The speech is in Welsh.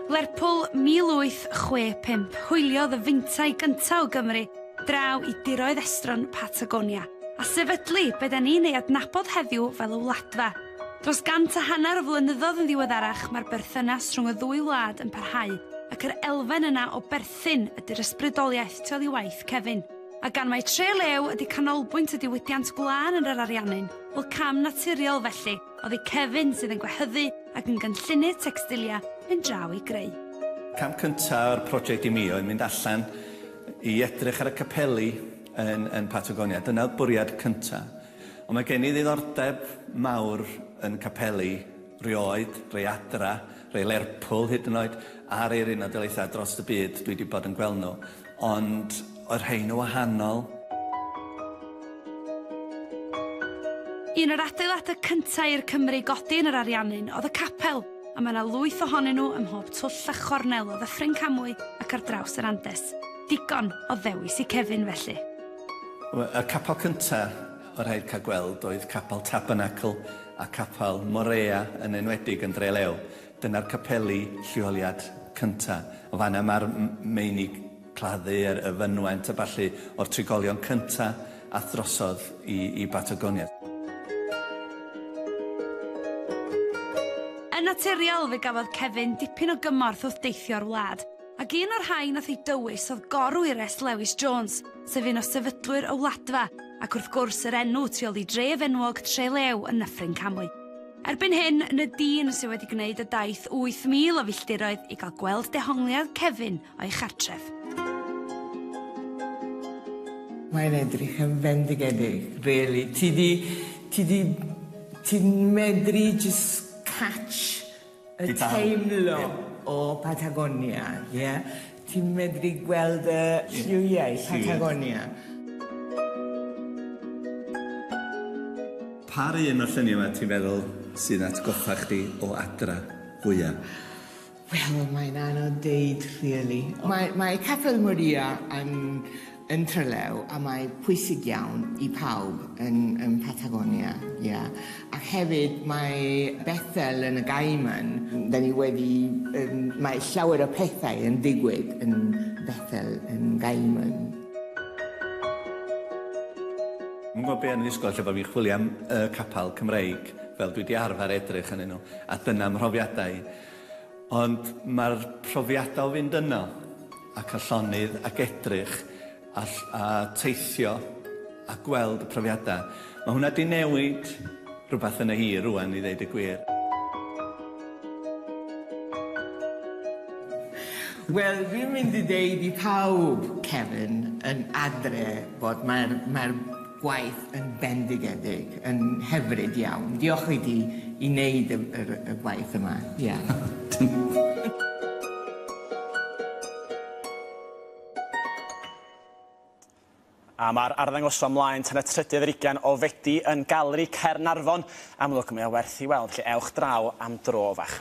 Lerpwl 1865 hwyliodd y feintai gyntaf o Gymru draw i diroedd estron Patagonia, a sefydlu be da ni'n ei adnabod heddiw fel y Wladfa. Dros gant a hanner o flynyddoedd yn ddiweddarach mae'r berthynas rhwng y ddwy wlad yn parhau ac yr elfen yna o berthyn ydy'r ysbrydoliaeth tu ol i waith Kevin. A gan mai Tre Lew ydy canolbwynt y diwydiant gwlân yn yr Ariannin, wel cam naturiol felly, Oddi Kevin sydd yn gwehyddu ac yn gynllunydd tecstilia yn draw i greu. Cam cynta o'r project i mi oedd mynd allan i edrych ar y capeli yn yn Patagonia. Dyna oedd bwriad cynta. Ond mae gen i ddiddordeb mawr yn capeli rioed, rei adra, rei Lerpwl hyd yn oed, a'r Eiryn a Daleithiau dros y byd dwi wedi bod yn gweld nhw. Ond oedd rhein yn wahanol. Un o'r adeiladau cyntaf i'r Cymry godi yn yr Ariannin oedd y capel, a mae yna lwyth ohonyn nhw ym mhob twll a chornel o Ddyffryn Camwy ac ar draws yr Andes. Digon o ddewis i Kevin, felly. Y capel cyntaf oedd rhaid cael gweld oedd Capel Tabernacl a Capel Morea, yn enwedig yn Dre Lew. Dyna'r capeli lleoliad cynta. O fan'na mae'r meini claddu a'r y fynwent a ballu o'r trigolion cynta a'th drosodd i i Batagonia. Yn naturiol fe gafodd Kevin dipyn o gymorth wrth deithio'r wlad, ac un o'r rhain a'th ei dywys oedd Gorwires Lewis Jones, sef un o sefydlwyr y Wladfa, ac wrth gwrs yr enw tu ol i dref enwog Trelew yn Nyffryn Camwy. Erbyn hyn, ny dyn sydd wedi gwneud y daith 8,000 o filltiroedd i gael gweld dehongliad Kevin o'i chartref. Mae'n edrych yn fendigedig, really. Ti 'di... ti 'di... ti'n medru jyst catch y teimlo o Patagonia, ie? Ti'n medru gweld y lliwiau Patagonia. Pa un o'r lluniau yma ti'n feddwl sy'n atgoffa chdi o adra fwya? Wel mae'n anodd deud rili. Mae mae Capel Maria yn yn Trelew a mae pwysig iawn i pawb yn yn Patagonia ia ac hefyd mae Bethel yn y Gaiman dan ni wedi yym mae llawer o pethau yn digwydd yn Bethel yn Gaiman. Yn gwybod be yn y ysgol lle bod fi'n chwilio am y capel Cymreig fel dwi di arfer edrych ynnyn nhw a dyna mhrofiadau Ond mae'r profiadau o fynd yno ac â llonydd ac edrych a a teithio a gweld y profiadau, mae hwnna 'di newid rhywbeth yn y hi rŵan i ddeud y gwir. Wel, fi'n mynd i deud i pawb, Kevin, yn adre, bod mae'r mae'r gwaith yn bendigedig, yn hyfryd iawn. Diolch i ti i wneud y, yr, y gwaith yma. Ie. A mae'r arddangosfa mlaen tan y trydydd ar ugain o Fedi yn Galeri Caernarfon. Amlwg, mae o werth i weld, felly ewch draw am dro fach.